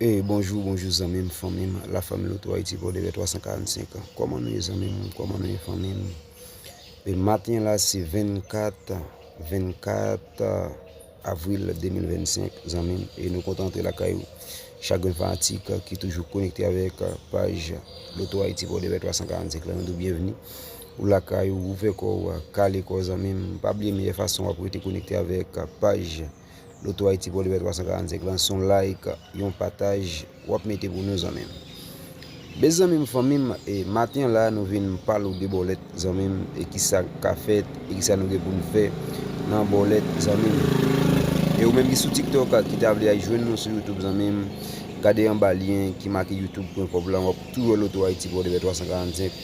Hey bonjou bonjou zanmim fanmim la fanmi loto ayiti pou deve 345 an kòman nou ye zanmim kòman nou ye fanmim e maten la se 24 24 avril 2025 zanmim e nou kontan antre lakay ou chak gren fanatik ki toujou konekte avèk paj loto ayiti pou deve 345 la nou di w byenvni Ou lakay ou, ouvè kò ou, kale kò zanmim. Pa bliye meyè fason wap rete konekte avèk paj Lotohaiti Pòdepè 345 lan son like, yon pataj wap mete pou nou zanmim. Bes zanmim fanmim e maten an la nou vin pale ou de bòlèt zanmim e kisa ka fèt e kisa nou gen poun fè nan bòlèt zanmim. E ou menm ki sou tiktok ki ta vle al jwenn nou sou youtube zanmim gade anba lyen ki make youtube pwen kòb lan wap tou wè Lotohaiti Pòdepè 345.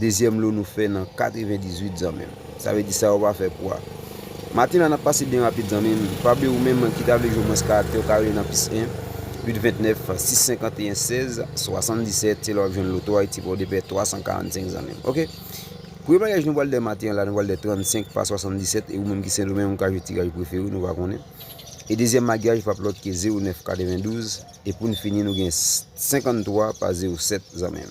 Dezyèm lo nou fè nan 98 zanmim. Sa vle di sa yo pa fè pwa. Maten la nap pase byen rapid zanmim. Fabio ou menm ki ta vle jwe mwens karaktè ou ka rele nan plis 1 829 651 16 77 se la wap jwenn loto ayiti pòdepè 345 zanmim ok. Premye bagaj nou pral dè maten an la nou pral dè 35 pa 77 e ou menm ki sendomeng ou ka jwe tiraj ou prefere ou nou va konnen. E dezyèm magyaj pap lòt ke 09 92 e poun fini nou gen 53 pa 07 zanmim.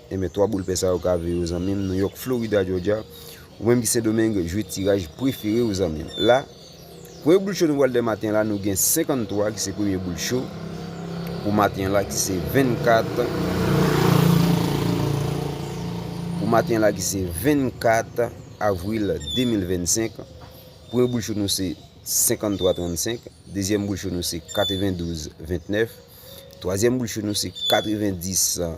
Enben 3 boul pè sa yo kave yo zanmim New York Florida Georgia ou menm ki sendomeng jwe tiraj preferew zanmim la premye boul cho nou pral dè maten la nou gen 53 ki se premye boul cho pou maten la ki se 24 pou maten la ki se 24 avril 2025 premye boul cho nou se 53 35 dezyèm boul cho nou se 92 29 twazyèm boul cho nou se 90 an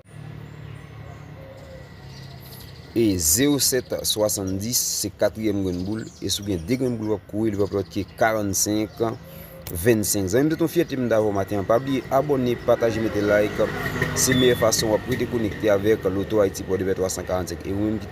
E zero sèt swasann dis se katriyèm grenn boul E si w gen de grenn boul w ap kore li pa p lòt ke karann senk venn senk Zanmi m se t yon fyète m ta avè w maten an Pa bliye abòne pataje mete like Se meyè fason w ap rete konekte avèk Loto Ayiti Pòdepè 345 E ou menm ki